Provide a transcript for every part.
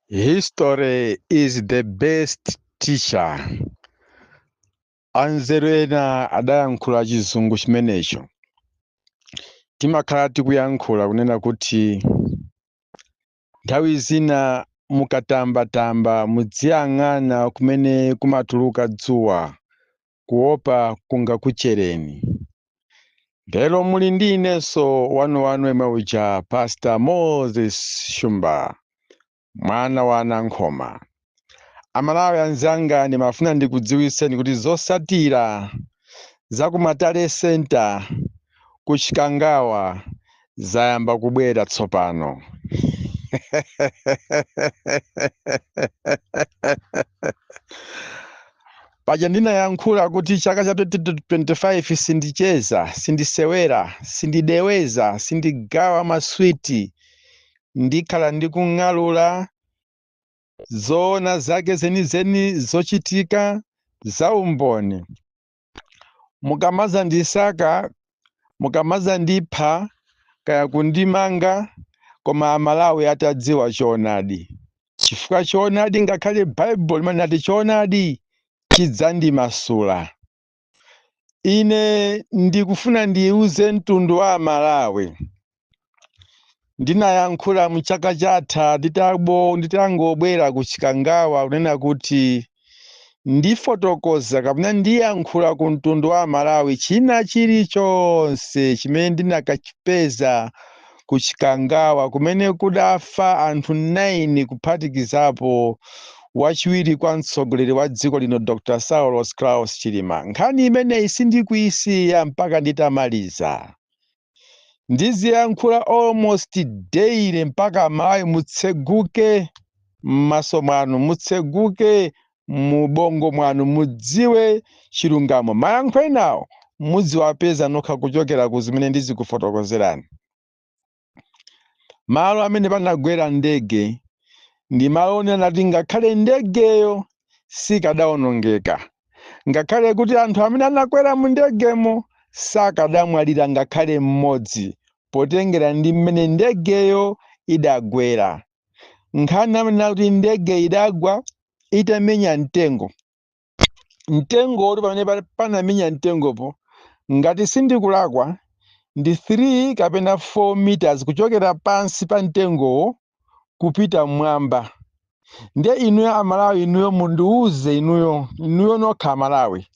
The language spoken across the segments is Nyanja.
History is the best teacher. Anzeru ena adayankhula chizungu chimenecho. Timakhala tikuyankhula kunena kuti nthawi zina mukatambatamba mudziyang'ana kumene kumatuluka dzuwa kuopa kungakuchereni. Lero muli ndi inenso wanuwanu yemwe uja Pastor Moses Shumba, mwana wa a Nankhoma. Amalawi anzanga ndimafuna ndikudziwitseni kuti zosatira za ku Nthungwa Center ku Chikangawa zayamba kubwera tsopano paja ndinayankhula kuti chaka cha 2025 sindicheza sindisewera sindideweza sindigawa maswiti ndikhala ndikung'alula zoona zake zenizeni zochitika za umboni mukamadzandisaka mukamadzandipha kaya kundimanga koma amalawi atadziwa choonadi chifukwa choonadi ngakhale baibulo limanena kuti choonadi chidzandimasula ine ndikufuna ndiwuuze mtundu wa amalawi ndinayankhula mchaka chatha nditangobwera ku Chikangawa kunena kuti ndifotokoza kapena ndiyankhula ku mtundu wa amalawi china chilichonse chimene ndinakachipeza ku Chikangawa kumene kudafa anthu 9 kuphatikizapo wachiwiri kwa mtsogoleri wa dziko lino Dr. Saulos Klaus Chilima. Nkhani imeneyi sindikuisiya mpaka nditamaliza. ndiziyankhula almost daily mpaka amalawi mutseguke m'maso mwanu mutseguke mubongo mwanu mudziwe chilungamo mayankho enawo mudziwapeza nokha kuchokera ku zimene ndizikufotokozerani malo amene panagwera ndege ndi malo onena kuti ngakhale ndegeyo sikadawonongeka ngakhale kuti anthu amene anakwera mu ndegemo sakadamwalira ngakhale mmodzi potengera ndi mmene ndegeyo idagwera nkhani amanena kuti ndege idagwa itamenya mtengo mtengo woti pamene panamenya mtengopo ngati sindikulakwa ndi 3 kapena 4 meters kuchokera pansi pa mtengowo kupita mmwamba ndiye inuyo amalawi inuyo mundiuze inuyo inuyo nokha amalawi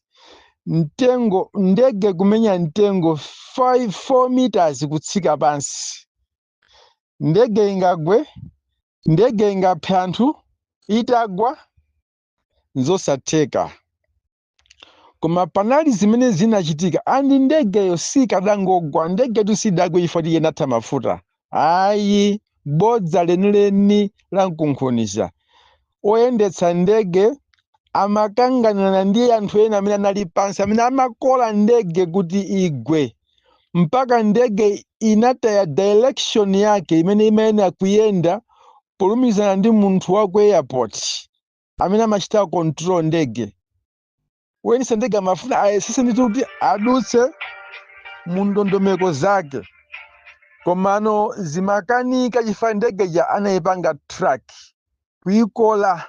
mtengo ndege kumenya mtengo 4 meters kutsika pansi ndege ingagwe ndege ingaphe anthu itagwa nzosatheka koma panali zimene zinachitika andi ndegeyo sikadangogwa ndegetu sidagwe chifukwa choti inatha mafuta ayi bodza lenileni la mkunkhuniza oyendetsa ndege amakanganana ndi anthu ena amene anali pansi amene amakola ndege kuti igwe mpaka ndege inataya direction yake imene imayenera kuyenda polumizana ndi munthu wa ku airport amene amachita control ndege woyendetsa ndege amafuna ayesese ndithu kuti adutse mu ndondomeko zake komano zimakanika chifukwa ndege ija anayipanga track kuyikola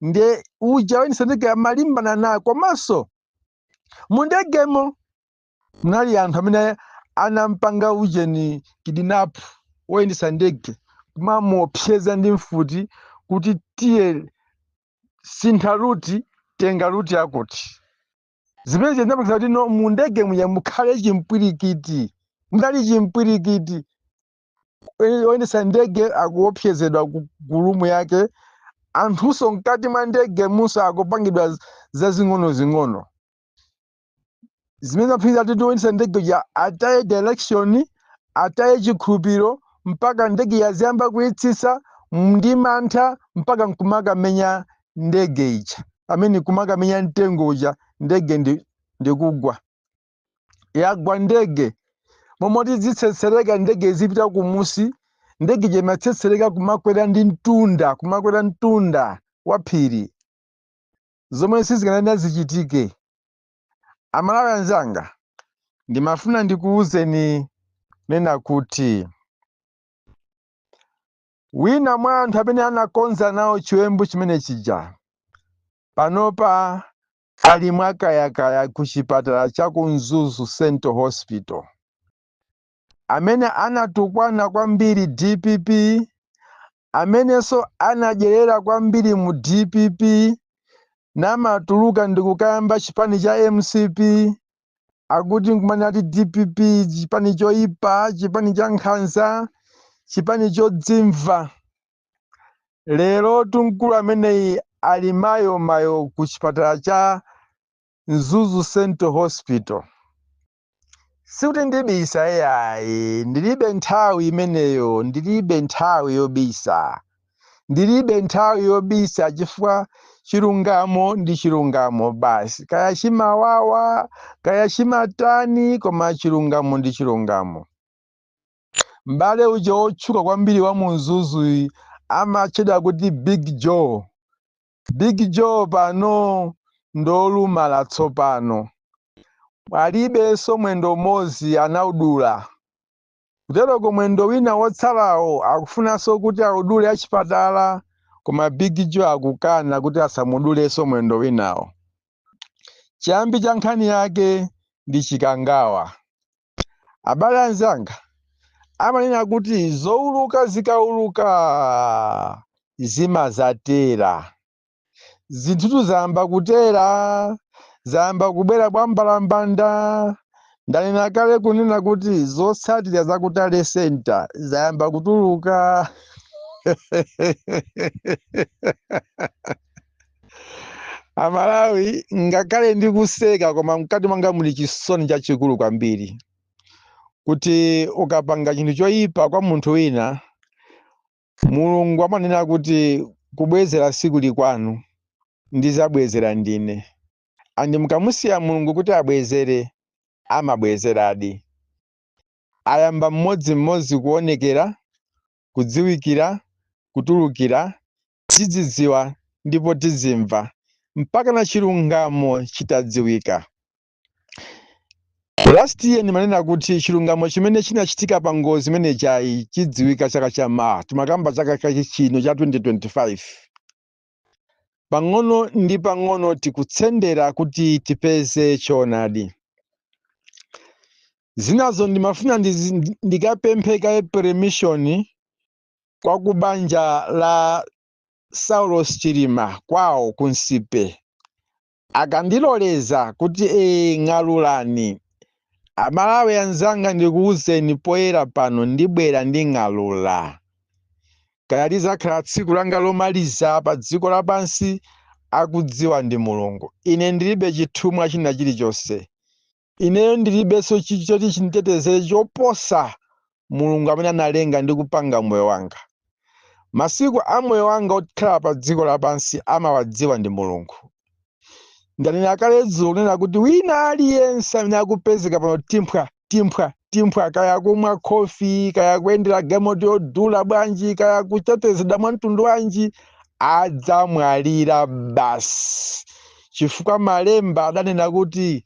nde uja woyendetsa ndege amalimbana nayo komanso mu ndegemo munali anthu amene anampanga ujeni kidnap woyendesa ndege kumamuopseza ndi mfuti kuti tiye sintha ruti tenga ruti yakuti zimene zinapangisa kuti now mu ndege muja mukhale chimpwirikiti mudali chimpwirikiti Oye- oyendesa ndege akuopsezedwa ku ku rumu yake anthunso mkati mwa ndege munso akupangidwa z- zazing'onozing'ono zimene zinapangitsa kuti oyendetsa ndege uja ataye direction ataye chikhulupiriro mpaka ndege ija aziyamba kuyitsitsa ndi mantha mpaka nkumakamenya ndege ija amene kumakamenya mtengo uja ndege ndi- ndikugwa yagwa ndege momoti zitsetsereka ndege izipita kumusi ndege ija imatsetsereka kumakwera ndi mtunda kumakwera mtunda wa phiri zomwe sizikanayenera zichitike amalawi anzanga ndimafuna ndikuwuzeni kunena kuti wina mwa anthu amene anakonza nawo chiwembu chimene chija panopa ali mwakayakaya ku chipatala cha ku mzuzu central hospital amene anatukwana kwambiri dpp, amenenso anadyerera kwambiri mu dpp namatuluka ndikukayamba chipani cha mcp akuti nkumanena ati dpp chipani choipa, chipani cha nkhanza, chipani chodzimva. Lero mkulu ameneyi ali mayo mayo ku chipatala cha Mzuzu Central Hospital. sikuti ndibisa eyayi ndilibe nthawi imeneyo ndilibe nthawi yobisa ndilibe nthawi yobisa chifukwa chilungamo ndi chilungamo basi kaya chimawawa kaya chimatani koma chilungamo ndi chilungamo m'bale uja wotchuka kwambiri wa mu Mzuzu amatchedwa kuti big joe Big Joe pano ndolumala tsopano alibenso mwendo umodzi anaudula. Kuteroko mwendo wina wotsalawo akufunanso kuti audule achipatala koma Big Joe akukana kuti asamudulenso mwendo winawo. Chiyambi cha nkhani yake ndi chikangawa. Abale anzanga amanena kuti zouluka zikauluka zimadzatera. Zinthutu zayamba kutera, zayamba kubwera bwambalambanda. Ndanena kale kunena kuti zotsatira za ku Tally Center zayamba kutuluka. amalawi ngakhale ndikuseka koma mkati mwanga muli chisoni chachikulu kwambiri kuti ukapanga chinthu choyipa kwa munthu wina mulungu amanena kuti kubwezera sikuli kwanu ndizabwezera ndine andi mukamusiya mulungu kuti abwezere amabwezeradi ayamba mmodzimmodzi kuonekera kudziwikira kutulukira tidzidziwa ndipo tizimva mpaka na chilungamo chitadziwika last year ndimanena kuti chilungamo chimene chinachitika pa ngozi imene chayi chidziwika chaka cha mawa timakamba chaka chino cha 2025 pang'ono ndi pang'ono tikutsendera kuti tipeze choonadi zinazo ndimafuna ndikapemphe kaye permission kwa ku banja la Saulos Chilima kwawo ku Nsipe akandiloleza kuti ee ng'alulani amalawi anzanga ndikuwuzeni poyera pano ndibwera nding'alula kaya lizakhala tsiku langa lomaliza pa dziko lapansi akudziwa ndi mulungu ine ndilibe chithumwa china chilichonse Ineyo ndilibenso choti chinditetezere choposa Mulungu amene analenga ndi kupanga moyo wanga. Masiku a moyo wanga wokhala padziko lapansi amawadziwa ndi Mulungu. Ndanena kale dzulo kunena kuti wina aliyense amene akupezeka pano timphwa timphwa timphwa, kaya akumwa khofi, kaya akuyendera galimoto yodula bwanji, kaya akutetezedwa mwa mtundu wanji, adzamwalira basi, chifukwa Malemba adanena kuti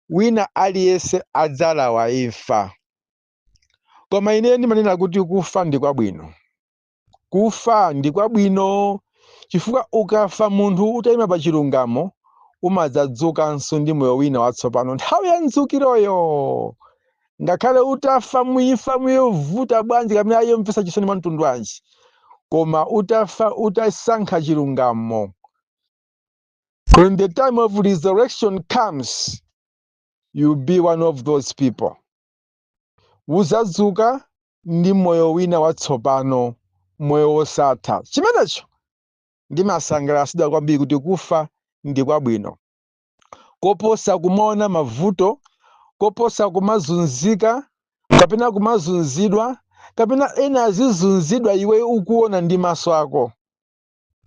wina aliyense adzalawa imfa. Koma ine ndimanena kuti kufa ndi kwabwino. Kufa ndi kwabwino chifukwa ukafa munthu utaima pa chilungamo, umadzadzukanso ndi moyo wina watsopano nthawi ya mdzukiroyo. Ngakhale utafa mu imfa yovuta bwanji kapena yomvetsa chisoni mwa mtundu wanji, koma utafa utasankha chilungamo, When the time of resurrection comes, you'll be one of those people. Uzadzuka ndi moyo wina watsopano, moyo wosatha. Chimenecho ndimasangalatsidwa kwambiri kuti kufa ndi kwabwino. Koposa kumaona mavuto, koposa kumazunzika, kapena kumazunzidwa, kapena ena azizunzidwa iwe ukuona ndi maso ako.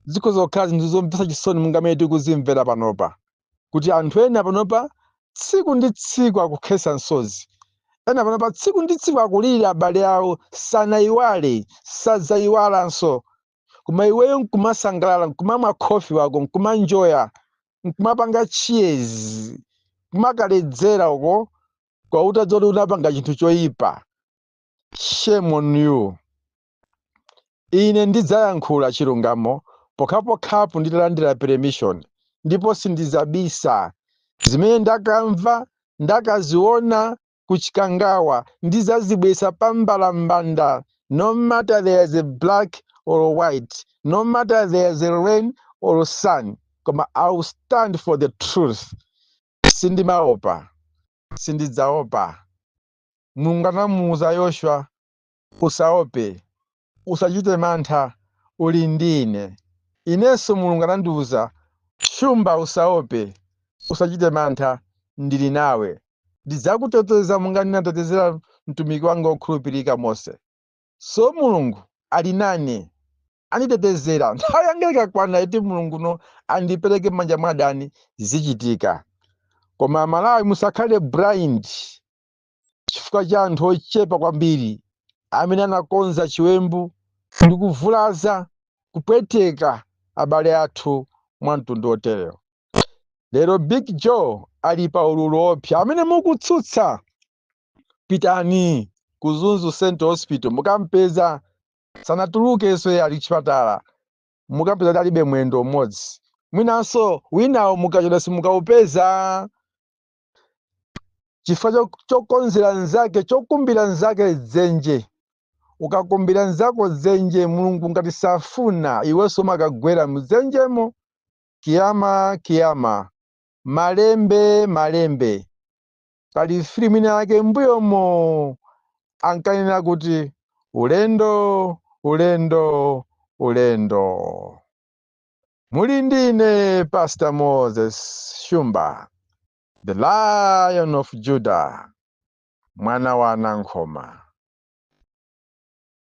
zikhoza kukhala zinthu zomvetsa chisoni monga mmene tikuzimvera panopa kuti anthu ena panopa tsiku ndi tsiku akukhetsa misozi ena panopa tsiku ndi tsiku akulira abale awo sanayiwale sadzayiwalanso koma iweyo nkumasangalala nkumamwa khofi wako nkumanjoya nkumapanga cheers nkumakaledzera uko kuwawuza zoti unapanga chinthu choyipa shame on you Ine ndidzayankhula chilungamo pokhapokhapo nditalandira permission, ndipo sindidzabisa. Zimene ndakamva, ndakaziwona ku Chikangawa, ndidzazibweretsa pa mbalambanda, no matter there is a black or white, no matter there is a rain or sun, koma I will stand for the truth. Sindimaopa, sindidzaopa. Mulungu anamuuza Yoshua Usaope, usachite mantha, uli ndi Ine. Inenso Mulungu anandiuza, Shumba, usaope, usachite mantha, ndili nawe. Ndidzakuteteza monga ndinatetezera mtumiki wanga wokhulupirika Mose. So Mulungu ali nane, anditetezera. Nthawi yanga ikakwana yoti Mulunguyo andipereke m'manja mwa adani, zichitika. Koma Amalawi musakhale blind. chifukwa cha anthu ochepa kwambiri amene anakonza chiwembu ndi kuvulaza, kupweteka abale athu mwa mtundu woterewo. Lero Big Joe ali pa ululu woopsa. Amene mukutsutsa, pitani ku Mzuzu Central Hospital mukampeza sanatulukenso iye ali chipatala mukampeza kuti alibe mwendo umodzi mwinanso winawo mukachedwa simukaupeza chifukwa cho- chokonzera nzake chokumbira nzake dzenje ukakumbira nzako dzenje mulungu ngati safuna iwenso umakagwera mdzenjemo kiyama kiyama malembe malembe pali filimu ina yake mbuyomo ankanena kuti ulendo ulendo ulendo Muli ndine Pastor Moses Shumba, the Lion of Judah, mwana wa Nankhoma.